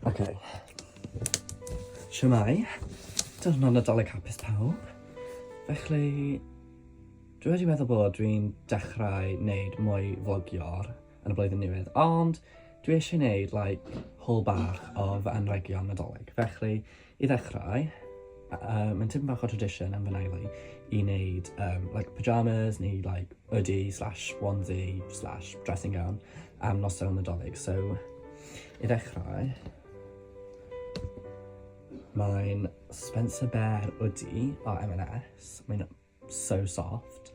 Okay. Siamai, dyna Nadolig hapus pawb. Felly, dwi wedi meddwl bod dwi'n dechrau wneud mwy vlogior yn y blwyddyn newydd, ond dwi eisiau gwneud like, haul bach o fy anregion Nadolig. Felly, i ddechrau, uh, mae'n tipyn bach o tradition am fy naili i wneud um, like, pyjamas neu like, hoodie slash onesie slash dressing gown am noson Nadolig. So, i ddechrau, mae'n Spencer Bear hoodie o M&S. Mae'n So soft.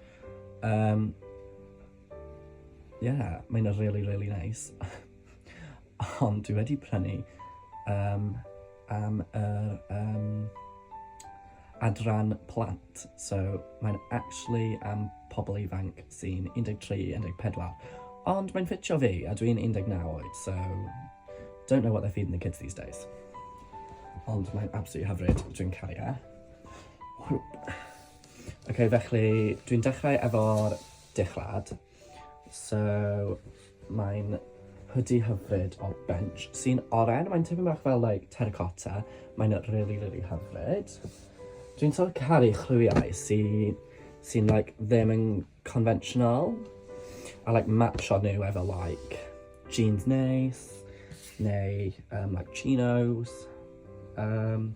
Yym. Ie, mae hynna'n rili rili neis. Ond dwi wedi prynu yym am yr yym adran plant. So mae'n actually am pobl ifanc sy'n 13, 14. Ond mae'n ffitio fi a dwi'n 19 oed, so don't know what they're feeding the kids these days. Ond mae'n absolutely hyfryd, dwi'n caru e. Ok, felly dwi'n dechrau efo'r dichlad. So, mae'n hoodie hyfryd o Bench sy'n oren, mae'n tipyn bach fel like terracotta, mae'n really, really hyfryd. Dwi'n sort of caru chlywiau sy'n sy like ddim yn conventional a like matcho nhw efo like jeans neis neu um, like chinos. Um,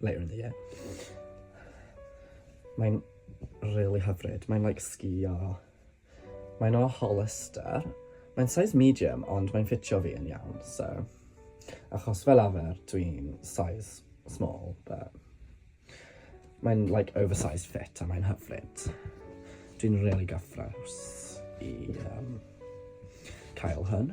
Later in the year. Mae'n rili hyfryd, mae'n like sgïo. Mae'n o Hollister. Mae'n size medium ond mae'n ffitio fi yn iawn, so... Achos fel arfer dwi'n size small, but... Mae'n like oversized fit a mae'n hyfryd. Dwi'n rili gyffrous i yym cael hwn.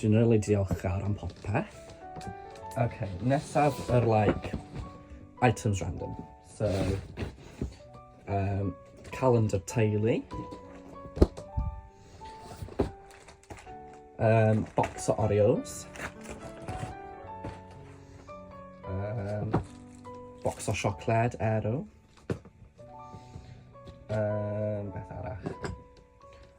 Dwi'n really diolchgar am popeth. Ok, nesaf yr like, items random. So, um, calendar teulu. Um, box o Oreos. Um, box o siocled, Aero. Um, beth arall?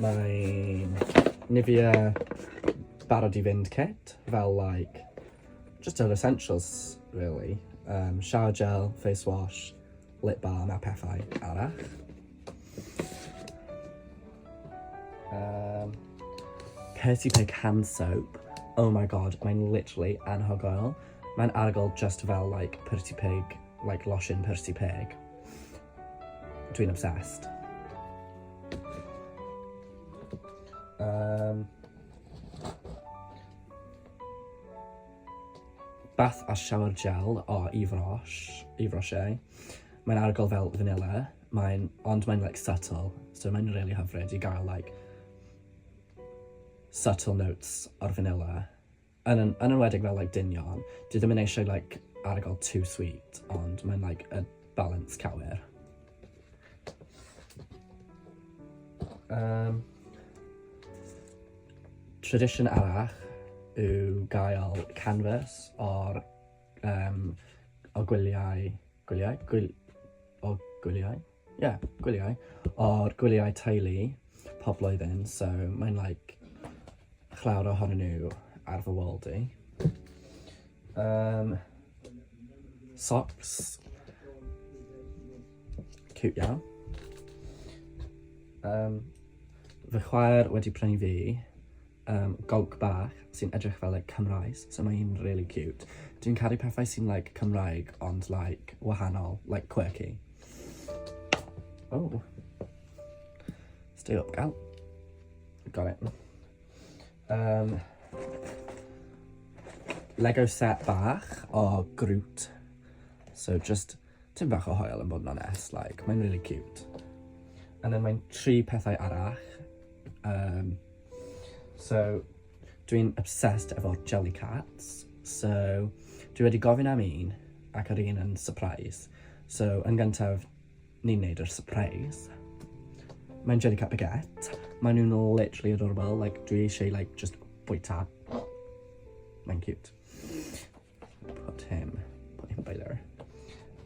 Mae'n Nivea barod i fynd kit, fel like, just yr essentials really. Um, shower gel, face wash, lip balm a pethau arall. Um, Percy Pig hand soap. Oh my god, mae'n literally anhygoel. Mae'n arogl just fel like Percy Pig, like lotion Percy Pig. Dwi'n obsessed. Um, bath a shower gel o Yves Roche, Yves Roche. Mae'n argol fel vanilla, mae'n, ond mae'n like subtle, so mae'n really hyfryd i gael like subtle notes o'r vanilla. yn yn yn enwedig fel like dynion, dwi ddim yn eisiau like arogl too sweet ond mae'n like y balance cywir. Um, tradition arall yw gael canvas o'r um, o gwyliau, gwyliau, gwyl, o gwyliau? Ie, yeah, gwyliau. O'r gwyliau teulu pob blwyddyn, so mae'n like chlawr ohonyn nhw ar fy wal di. Um, socks. Cute iawn. Um, fy chwaer wedi prynu fi Yym gowc bach sy'n edrych fel like cymraes so mae hi'n rili ciwt. Dwi'n caru pethau sy'n like Cymraeg ond like wahanol like quirky. O! Stay up gal. Got it. Yym Lego set bach o Groot so jyst Tim bach o hoel yn bod yn onest like mae'n really cute. And then mae'n tri pethau arall. Um, so dwi'n obsessed efo'r jelly cats. So dwi wedi gofyn am un ac yr un yn surprise. So yn gyntaf ni'n neud yr surprise. Mae'n jelly cat baguette. Mae nhw'n literally adorable. Like, dwi eisiau like, just bwyta. Mae'n cute. Put him, put him by there.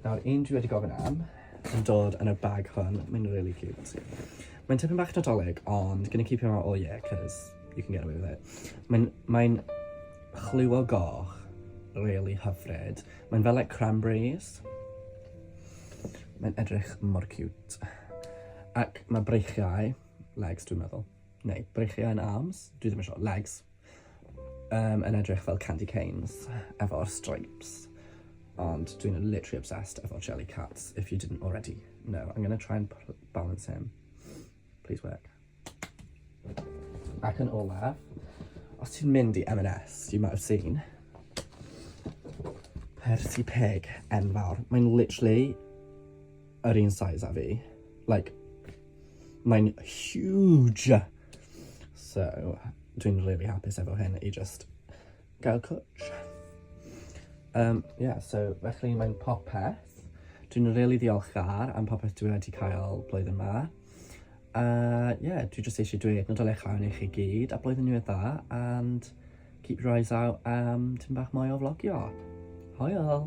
Nawr, un dwi wedi gofyn am yn dod yn y bag hwn. Mae'n really cute. Mae'n tipyn bach nadolig, ond gonna keep him out all year, cos you can get away with it. Mae'n mae chlyw o goch, really hyfryd. Mae'n fel like cranberries. Mae'n edrych mor cute. Ac mae breichiau, legs dwi'n meddwl. Neu, breichiau yn arms? Dwi ddim yn siŵr, legs. Yym yn edrych fel candy canes efo'r stripes ond dwi'n literally obsessed efo Jellycats if you didn't already know. I'm gonna try and pl- balance him. Please work. Ac yn olaf, os ti'n mynd i M&S, you might have seen, Percy Pig enfawr. Mae'n literally yr un size â fi. Like, mae'n huge! So dwi'n rili hapus efo hyn i jyst gael cwtsh. Yym ie so felly mae'n popeth. Dwi'n rili ddiolchgar am popeth dwi wedi cael blwyddyn 'ma. A ie dwi jyst eisiau dweud Nadolig Llawen i chi gyd a Blwyddyn Newydd Dda and keep your eyes out am tipyn bach mwy o flogio. Hwyl!